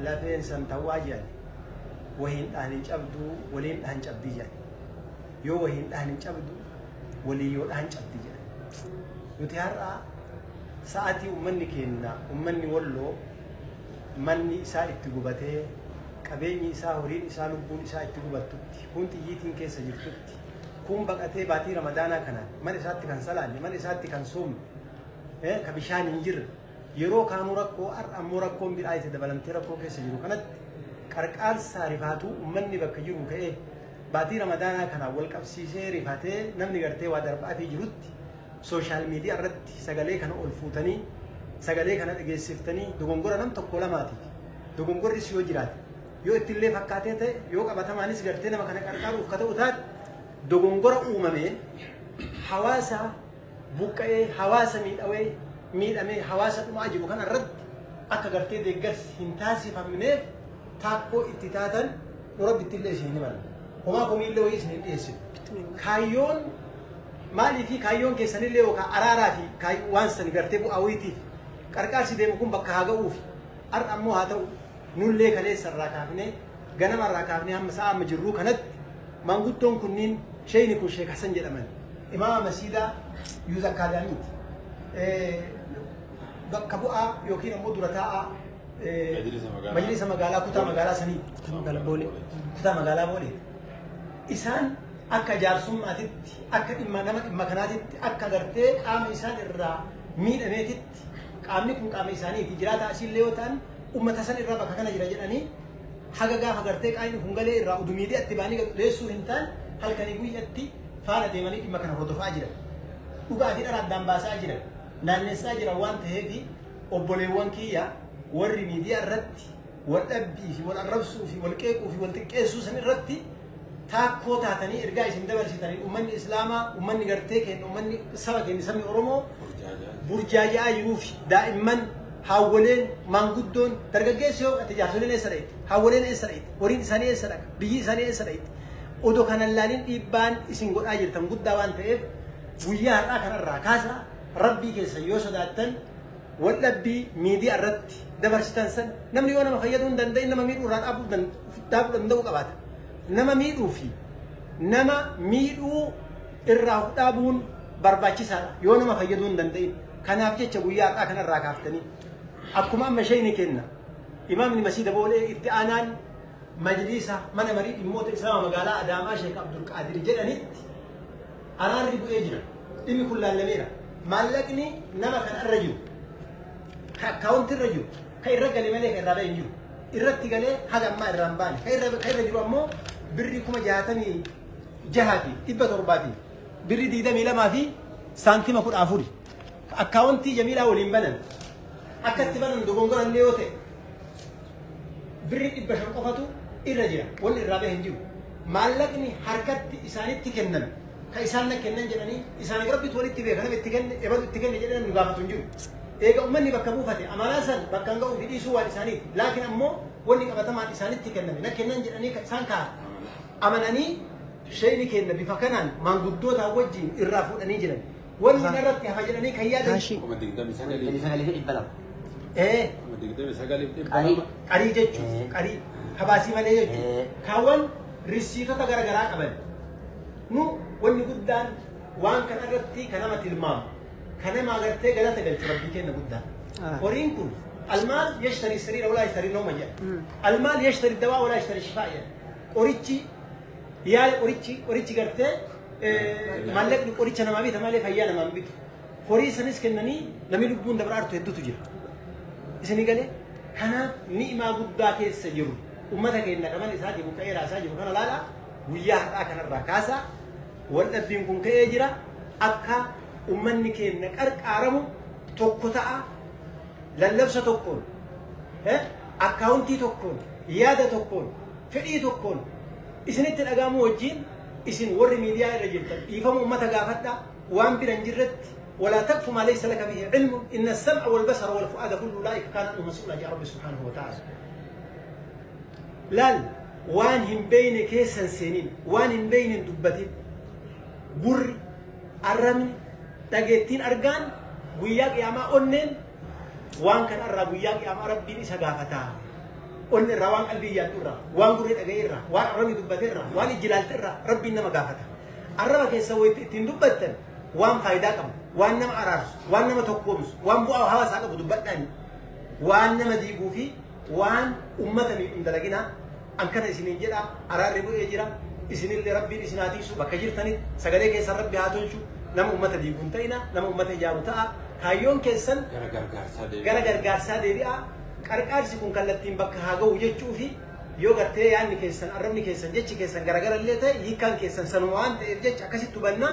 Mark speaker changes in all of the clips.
Speaker 1: lafeen san tawwaa jedhan wahiin dhahan hin cabdu waliin dhahan cabdii jedhan yoo wahiin dhahan hin cabdu walii yoo dhahan cabdi jedhan nuti har'a sa'atii ummanni keenna ummanni walloo manni isaa itti gubatee qabeenyi isaa horiin isaa lubbuun isaa itti gubattutti kun xiyyiitiin keessa jirtutti kun baqatee baatii ramadaanaa kana mana isaatti kan salaanne mana isaatti kan soomne ka bishaan hin jirre Yeroo kaanuu rakkoo har'a ammoo rakkoon biraa itti dabalamtee rakkoo keessa jiru kanatti qarqaarsaa rifaatuu ummanni bakka jiru ka'ee baatii ramadaanaa kanaan wal qabsiisee rifatee namni gartee waa darbaatii jirutti sooshaal miidiyaa irratti sagalee kana ol fuutanii sagalee kana dhageessiftanii dogongora nam tokko lamaatiif dogongorris yoo jiraate yoo ittillee fakkaatee ta'e yoo qabatamaanis gartee nama kana qarqaaruuf ka ta'u taate dogongora uumamee hawaasaa buqqa'ee hawaasa miidhawee miidhamee hawaasa dhumaa jiru kana irratti akka gartee deeggarsi hin taasifamneef taakkoo itti taatan nu rabbitti illee isin hin himan homaa komii illee wayii isin hin dhiyeessinu kaayyoon maalii fi kaayyoon keessanillee yookaan araaraa fi kaay- waan sani gartee bu'aa wayiitiif qarqaarsi deemu kun bakka haa ga'uuf har'a ammoo haa ta'u Nullee kaleessa irraa kaafnee ganama irraa kaafnee hamma sa'a amma jirruu kanatti maanguddoon kunniin sheeyni kun sheek Hasan jedhaman imaama masiidaa yuuz akkaadaamiiti. Bakka bu'aa yookiin ammoo dura taa'aa majlisa magaalaa kutaa magaalaa sanii kutaa magaalaa boolee kutaa magaalaa boolee isaan akka jaarsummaatitti akka dhimma nama dhimma kanaatitti akka gartee qaama isaan irraa miidhameetitti isaaniiti. Qaamni kun qaama isaaniiti. Jiraataa asiillee yoo ta'an uummata san irraa bakka kana jira jedhanii haga gaafa gartee qaayni kun galee irraa udu miidiyaatti baanii leessuu hin taan halkanii guyyatti faana deemanii dhimma kana hordofaa jiran. Dhugaa fi dhara addaan baasaa jiran. Naannessaa jiran waan ta'eef obboleewwan kiyya warri miidiyaa irratti wal dhabbii fi wal arrabsuu fi wal qeequu fi wal xiqqeessuu san irratti taakkoo taatanii ergaa isin dabarsitanii ummanni islaamaa ummanni gartee keenya ummanni saba keenya sabni oromoo burjaaja'aa jiruu fi daa'imman haawwoleen maanguddoon dargaggeessi yoo ati jaarsoleen eessa dhaqxe haawwoleen eessa dhaqxe horiin isaanii eessa dhaqa biyyi isaanii eessa dhaqxe odoo kanan laaliin dhiibbaan isin godhaa jirtan guddaa waan ta'eef guyyaa har'aa kanarraa kaasa rabbii keessa yoo sodaattan Waldhabbii miidiyaa irratti dabarsitan san namni yoo nama fayyaduu hin danda'in nama miidhuu irraa dhaabuu dan- dhaabuu danda'uu qabaata. Nama miidhuu fi nama miidhuu irraa of dhaabuun barbaachisaadha yoo nama fayyaduu hin danda'in. Kanaaf jecha guyyaa har'aa kanarraa kaaftanii akkuma amma ishee ni kenna. Imaamni Masiida Boolee itti aanaan majliisa mana marii dhimmoota Islaama magaalaa Adaamaa Sheek Abdul Qaadir jedhanitti Araarri bu'ee jira. Dhimmi kun laallameera. Maallaqni nama kana irra jiru, ka akkaawuntii irra jiru, ka irra gale malee ka irraa ba'e hin jiru. Irratti galee haga ammaa irraa hin baane. Ka irra, ka irra jiru ammoo birri kuma jaatamii jahaati, dhibba torbaati, birri digdamii lamaa fi saantima kudha afuri. Akkaawontii Jamiilaa waliin banan akka itti banan dogongora illee yoo ta'e birri dhibba shan qofatu irra jira. Wanni irraa bahe hin jiru. Maallaqni harkatti isaanitti kenname kan isaan na kennan jedhanii isaaniif rabbitu walitti beeka nama itti kenne ebalu itti kenne jedhee namni gaafatu hin jiru. Eega ummanni bakka buufate amanaa san bakkaan ga'uu fi dhiisuu waan isaaniiti. Laakiin ammoo wanni qabatamaan isaanitti kenname na kennan jedhanii kan isaan kaa'an amananii sheeyni keenna bifa kanaan maanguddootaa wajjiin irraa fuudhanii jiran. Wanni Ahaa. narratti hafa jedhanii kan yaadan. Kaashii. kuma digdami sagalii
Speaker 2: Digdamii sagalii fi dhibba lama. Ee,
Speaker 1: kuma digdami sagalii fi dhibba Qarii. lama qarii jechuun Ee. qarii habaasii malee jechuun Ee. kaawwan risiitota gara garaa qaban. Nu wanni guddaan waan kana irratti kan nama tilmaamu kan nama agartee galata galchu rabbii kenna guddaa. Ah. Horiin kun almaal yashtarii sariira walaa yashtarii nooma jedha. Mm. Almaal yashtarii dawaa walaa yashtarii shifaa jedha. Qorichi Yaala qorichi qorichi gartee maallaqni qoricha namaa bita malee fayyaa namaa bitu. Horii sanis kennanii namni lubbuun dabra artu hedduutu jira. Isin galee kanaaf ni'imaa guddaa keessa jiru. Uummata keenya qaban isaa jiru ka'ee raasaa jiru kana laala guyyaa har'aa kanarraa kaasaa wal dhabbiin kun ka'ee jira akka uummanni keenya qarqaaramu tokko ta'a lallabsa tokkoon akkaawuntii tokkoon yaada tokkoon Fedhii tokkoon isinitti dhaga'amuu wajjiin isin warri miidiyaa irra jirtan dhiifama ummata gaafadhaa waan bira hin jirretti walaa taqfu maa laysa laka bihi ilmun inna as-sam'a wal basara wal fu'aada kullu ulaa'ika kaana anhu mas'uula ja'a rabbi subhaanahu wa ta'aala laal waan hin beeyne keessan seenin waan hin beeyne hin dubbatin gurri arrabni dhageettiin argaan guyyaa qiyaamaa onneen Waan kana irraa guyyaa qiyaamaa rabbiin isa gaafataa. Onni irraa waan qalbii yaaddu irraa, waan gurri dhaga'ee irraa, waan arrabni dubbate irraa, waan ijji ilaalte irraa rabbiin nama gaafata. Arraba keessa wayitti ittiin dubbattan waan faayidaa qabu, waan nama araarsu, waan nama tokkoomsu, waan bu'aa hawaasaa qabu dubbadhaan waan nama diiguu fi waan ummata miidhun dalaginaa Akkana isiniin jedhaa, araarri bu'ee jira, isinillee Rabbiin isin haa tiksu, bakka jirtanitti sagalee keessan Rabbi haa tolchu, nama ummata diigu hin ta'inaa, nama ummata ijaaru ta'aa, kaayyoon keessan gara gargaarsaa deebi'aa, qarqaarsi kun kallattiin bakka haa gahu jechuu fi yoo gartee yaanni keessan, arrabni keessan, jechi keessan garagara illee ta'e hiikkaan keessan sanuma waan ta'eef jecha akkasitti hubannaa.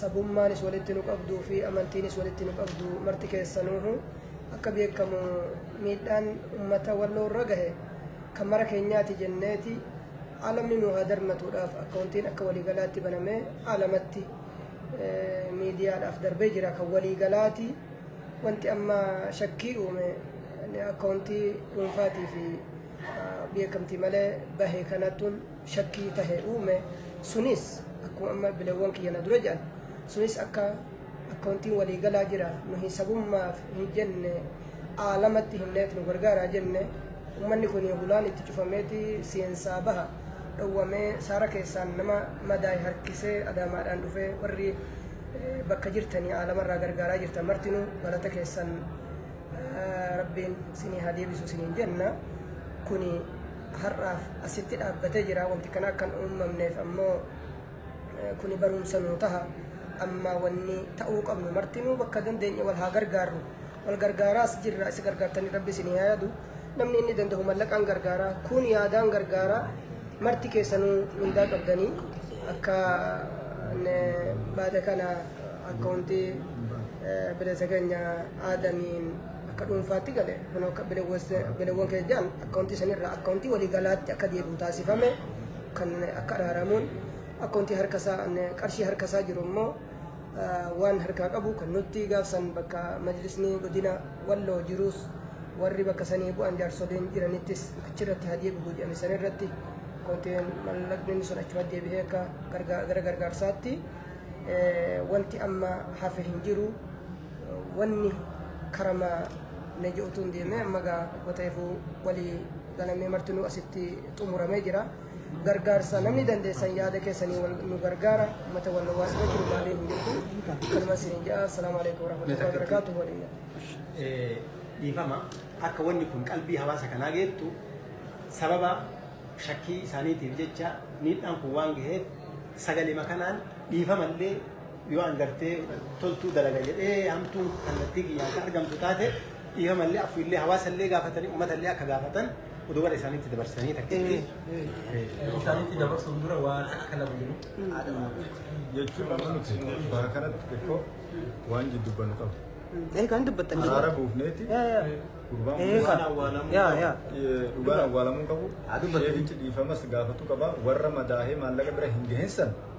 Speaker 3: sabummaanis walitti nu qabduu fi amantiinis walitti nu qabdu marti keessanuuhu akka beekamu miidhaan ummata walloo irra gahe kan mara keenyaati jenneeti alamni nu haa darmatuudhaaf akkaawuntiin akka waliigalaatti banamee alamatti miidiyaadhaaf darbee jira kan waliigalaati wanti amma shakkii uume akkaawuntii dhuunfaatii fi beekamtii malee bahe kanattuun shakkii tahe uume sunis akkuma amma bilawwan kiyya na dura jedhan sunis akka akkawantiin walii galaa jira nuhi sabummaaf hin jenne aalamatti himneet nu gargaaraa jenne ummanni kun hulaan itti cufameeti seensaa baha dhowwamee saara keessaan nama madaa'e harkisee adaamaadhaan dhufee warri eh, bakka jirtanii aalamarraa gargaaraa jirtan martinuu galata keessan eh, rabbiin sinii haa deebisu siniin jenna kuni har'aaf asitti dhaabbatee jira. Wanti kana akka hin uumamneef ammoo eh, kuni barumsa nuu taha. Amma wanni ta'uu qabnu martinuu bakka dandeenye wal haa gargaarru. Wal gargaaraas jirra isa gargaartanii rabbi isin haa yaadu. Namni inni danda'u mallaqaan gargaara. Kun yaadaan gargaara. Marti keessanuu mindaa qabdanii akka eh, baada kana akka hundi eh, bilisa keenya aadaniin akka dhuunfaatti gale kun akka bilawwan keenya jedhan akkaawuntii sanirraa akkaawuntii waliigalaatti akka deebi'u taasifame kan akka araaramuun akkaawuntii harkasaa qarshii harkasaa jiru immoo waan harkaa qabu kan nutti gaafsan bakka majlisni godina walloo jiruus warri bakka sanii bu'an jaarsoliin jiranittis achirratti haa deebi'u jedhame sanirratti akkaawuntiin mallaqni sun achuma deebi'ee akka gara gargaarsaatti wanti amma hafe hin jiru. Wanni karama Naji otuun deemee amma gaa goteefuu walii galamee martinuu asitti xumuramee jira. Gargaarsa namni dandeessan yaada keessanii wal nu gargaara. Mata wal waas gochuu maalii hin jirtu. Kanuma siin ja'a. Assalaamu alaikum warahmatullahi wabarakatuh. Waliin. Eh,
Speaker 1: dhiifama akka wanni kun qalbii hawaasa kanaa geettu sababa shakkii isaaniitiif jecha miidhaan kun waan gaheef sagalima kanaan dhiifamallee yoo an gartee toltuu dalaga jedhee hamtuun kallattii kiyyaan kan argamtu taate dhiifamallee afuullee hawaasallee gaafatanii uummatallee akka gaafatan oduu gara isaaniitti dabarsanii takkitti isaanitti dabarsuun dura waan akka lama jiru.
Speaker 4: jechuun amma nuti bara kanatti xiqqoo waan jiddu bannu qabu. Eh, kan dubbattan
Speaker 3: jiru. Araara buufneeti
Speaker 4: Yaa, yaa. gurbaan Eh, kun kan. awwaalamuu Yaa, yaa. eh, dhugaan awwaalamuu qabu. Haa dubbatu. Sheekichi dhiifamas gaafatu qaba. Warra madaahee maallaqa bira hin gahinsan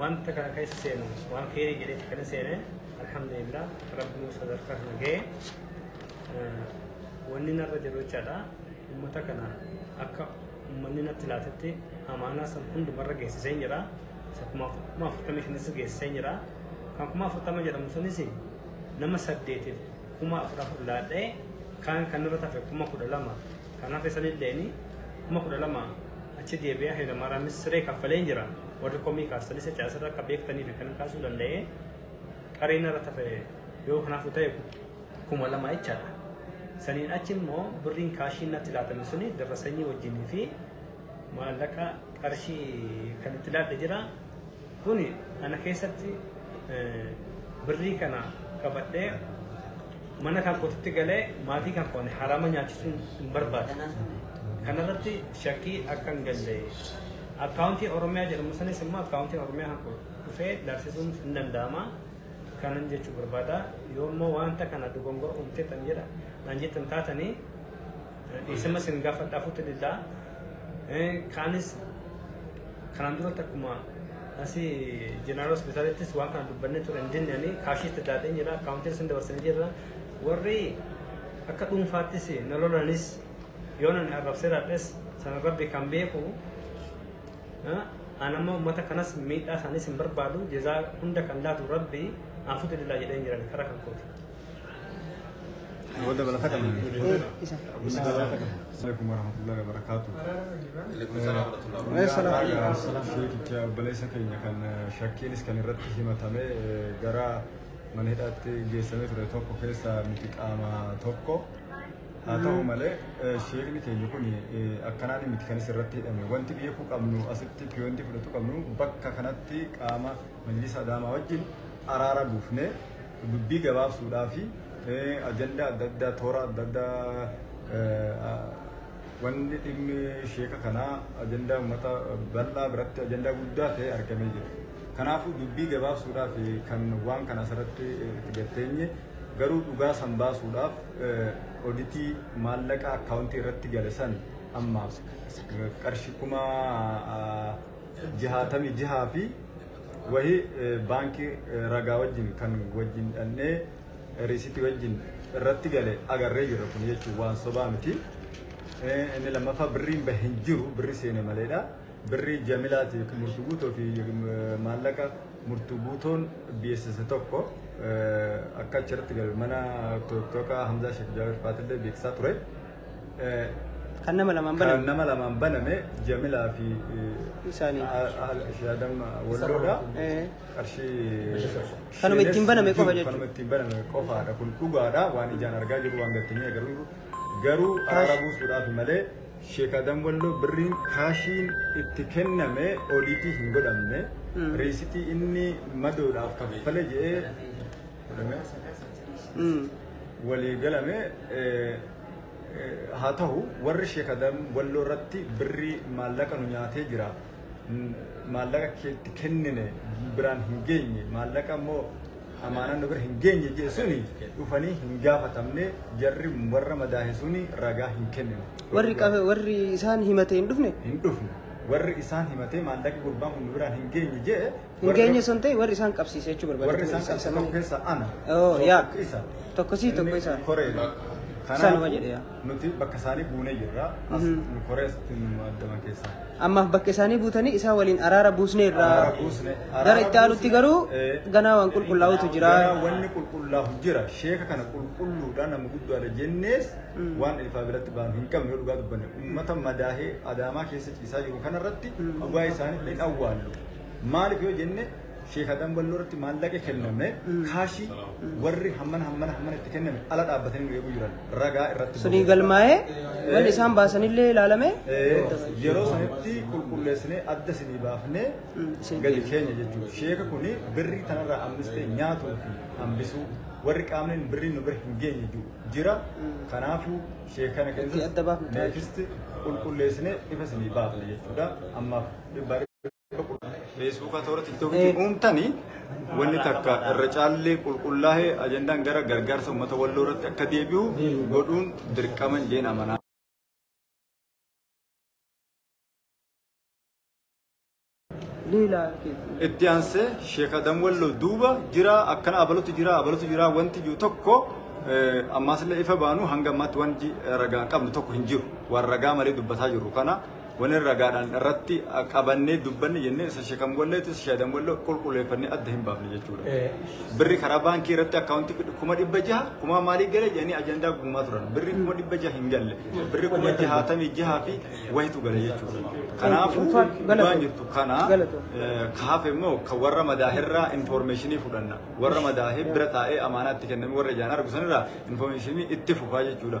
Speaker 5: wanta kana keessa seenu waan keerii jedhetti kana seene alhamdulillah rabbi nu sadarkaa kana ga'e wanni narra jiru jechaadha ummata kana akka ummanni natti laatetti amaanaa san hundumarra geessisee jira isa kuma afurtamii shanis geessisee jira kan kuma afurtama jedhamu sunis nama saddeetiif kuma afur afur laadhee kaan kan irra tafe kuma kudha lama kan hafe sanilleeni kuma kudha lama achi deebi'ee hayilamaaraamis siree kaffalee jira. warri komii kaastanis jecha asirra akka beektaniif akkanan kaasuu danda'e qareena irra tafe yoo kanaaf ta'e kuma lama jechaadha. Saniin achi immoo birriin kaashiin natti laatame suni dirra sanyii wajjinii fi maallaqa qarshii kan itti laadhe jira. Kuni ana keessatti birrii kana qabadhee Mana kan kootitti galee maatii kan koo ani haraama nyaachisuun hin barbaadu. Kanarratti shakkii akka hin galle akkaawuntii Oromiyaa jedhamu sanis immoo akkaawuntiin Oromiyaa kan koo dhufee laaksisuun hin danda'ama. Kanan jechuu barbaada. Yoo immoo wanta kana dogongora uumtee tan jedha naan jettan taatanii Isima sin gaafadha fuutti diddaa. Kaanis kanaan duratti akkuma asii jeneraal hospitaalittis waan kana dubbannee ture hin dinnanii kaashiitti daadhee jira akkaawuntiin sin dabarsanii jirra. Warri akka dhuunfaattis na lolanis yoo nan arrabsee raadhes sana rabbi kan beeku an amma uummata kanas miidhaa isaaniis hin barbaadu jezaa hunda kan laatu rabbi aan fuutti diddaa jedhee hin jiran karaa kan kooti. Wada
Speaker 4: balaka kan. Isa. Assalamualaikum warahmatullahi wabarakatuh.
Speaker 2: Waalaikumsalam. Sheekicha
Speaker 4: obboleessa keenya kan shakkiinis kan irratti himatame gara mana hidhaatti geessamee ture tokko keessaa miti qaama tokko. Haa ta'u malee sheekni keenya kun akkanaan miti kanis irratti hidhame. Wanti beekuu qabnu asitti piyoontii fudhatu qabnu bakka kanatti qaama majlisa adaamaa wajjin araara buufnee dubbii gabaabsuudhaa fi ajandaa adda addaa toora adda addaa wanni dhimmi sheeka kanaa ajandaa uummata bal'aa biratti ajandaa guddaa ta'ee argamee jira. Kanaafuu dubbii gabaabsuudhaaf kan waan kana asirratti itti gatteenye garuu dhugaa san baasuudhaaf oditii maallaqa akkaawuntii irratti gale san amma qarshi kuma jahaatamii jahaa fi Wahi baankii ragaa wajjin kan wajjin dhannee riisitii wajjin irratti gale agarree jirra kun jechuun waan sobaa miti. Inni lammaffaa birriin bahe hin jiru birri seene maleedha. Birri jamilaati yookiin murtuu guutoo fi maallaqa murtuu guutoon beeksisa tokko akka achirratti galu mana tokko Hamzaa Sheek Jaawir Faatillee beeksisaa ture.
Speaker 3: Kan nama lamaan baname. Kan nama lamaan baname Jamilaa
Speaker 4: fi Isaanii. Shaadam Walloodha. Qarshii. Kanuma ittiin baname qofa jechuudha.
Speaker 3: Kanuma ittiin baname qofaadha.
Speaker 4: Kun dhugaadha waan ijaan argaa jiru waan gattinee garuu garuu araara buusuudhaaf malee sheekaadam Walloo birriin kaashiin itti kenname oliitii hin godhamne. Reesitii inni madoodhaaf kaffale jedhee Oromiyaa sadaasa Mm. walii galame eh, eh, haa ta'u warri sheekadan walloo irratti birrii maallaqa nu nyaatee jira Mm, maallaqa keetti kennine biraan hin geenye maallaqa immoo amaanaa nu bira hin geenye jedhe suni dhufanii hin gaafatamne jarri warra madaahe suni ragaa hin kennine. Warri qabe warri
Speaker 3: isaan himatee hin dhufne. hin dhufne
Speaker 4: warri isaan himatee maallaqi gurbaan kun nu biraan hin geenye jedhe Hin geenye san ta'e
Speaker 3: warri isaan qabsiise jechuu barbaada. Warri isaan qabsiise tokko keessa
Speaker 4: ana. Oo yaa. Tokko isa.
Speaker 3: Tokko sii tokko isaa. Koreedha.
Speaker 4: Isaanuma jedhe
Speaker 3: yaa. Nuti bakka isaanii
Speaker 4: buunee jirra. As nu koree asitti nu addaman keessaa. Ammaaf bakka isaanii
Speaker 3: buutanii isaa waliin araara buusnee irraa. Araara buusne. Gara itti aanutti garuu Eh, ganaa waan qulqullaa'utu jira. Ganaa wanni qulqullaa'u
Speaker 4: jira. Sheeka kana qulqulluudhaan nama guddaadha jennees waan ilfaa biratti baanu hin qabne yoo dhugaa dubbanne. Uummata madaahee adaamaa keessa ciisaa jiru kanarratti dhugaa isaanii hin awwaallu. Maaliif yoo jenne Sheekh Adam Walloo irratti maallaqa kenname kaashii warri hammana hammana hammana itti kenname ala dhaabbatanii nu eeguu jiran ragaa irratti Sunii galmaa'ee
Speaker 3: wanni isaan baasanillee ilaalame Eh, yeroo
Speaker 4: sanitti qulqulleessinee adda isinii baafnee isin gadi keenya jechuudha. Sheeka kun birrii tanarraa hambistee nyaatuu fi hambisuu warri qaamneen birrii nu bira hin geenye jiru jira. Kanaafuu sheekana Itti adda baafna. keessatti neefisti qulqulleessinee ifa isinii baafne jechuudha. Ammaaf dhibba Feesbuukaa toora tiktookiitti Eh. uumtanii wanni takka irra caallee qulqullaa'ee ajandaan gara gargaarsa uummata walloo irratti akka deebi'u Deebi'u. godhuun dirqama jeen amanaa. Leela keessa. Itti aansee Sheekh Adam Walloo duuba jira akkana abalutu jira abalutu jira wanti jiru tokko eh, ammaas illee ifa baanu hanga ammaatti wanti ragaan qabnu tokko hin jiru. Waan ragaa malee dubbataa jirru kana Wanni ragaadhaan irratti qabannee dubbanne jennee isa shekan walleetti isa shaadan wallee qulqulleeffannee adda hin baafne jechuudha. Birri karaa baankii irratti akkaawuntii kuma dhibba jaha kuma maalii gale jedhanii ajandaa guumaa turan. Birri kuma dhibba jaha hin galle. Birri kuma jahaatamii jahaa fi wayitu gale jechuudha. Kanaafuu waan jirtu kana kaafe immoo kan warra madaahirraa infoormeeshinii fudhanna. Warra madaahee bira taa'ee amaanaatti kenname warra ijaan argu sanirraa infoormeeshinii itti fufaa jechuudha.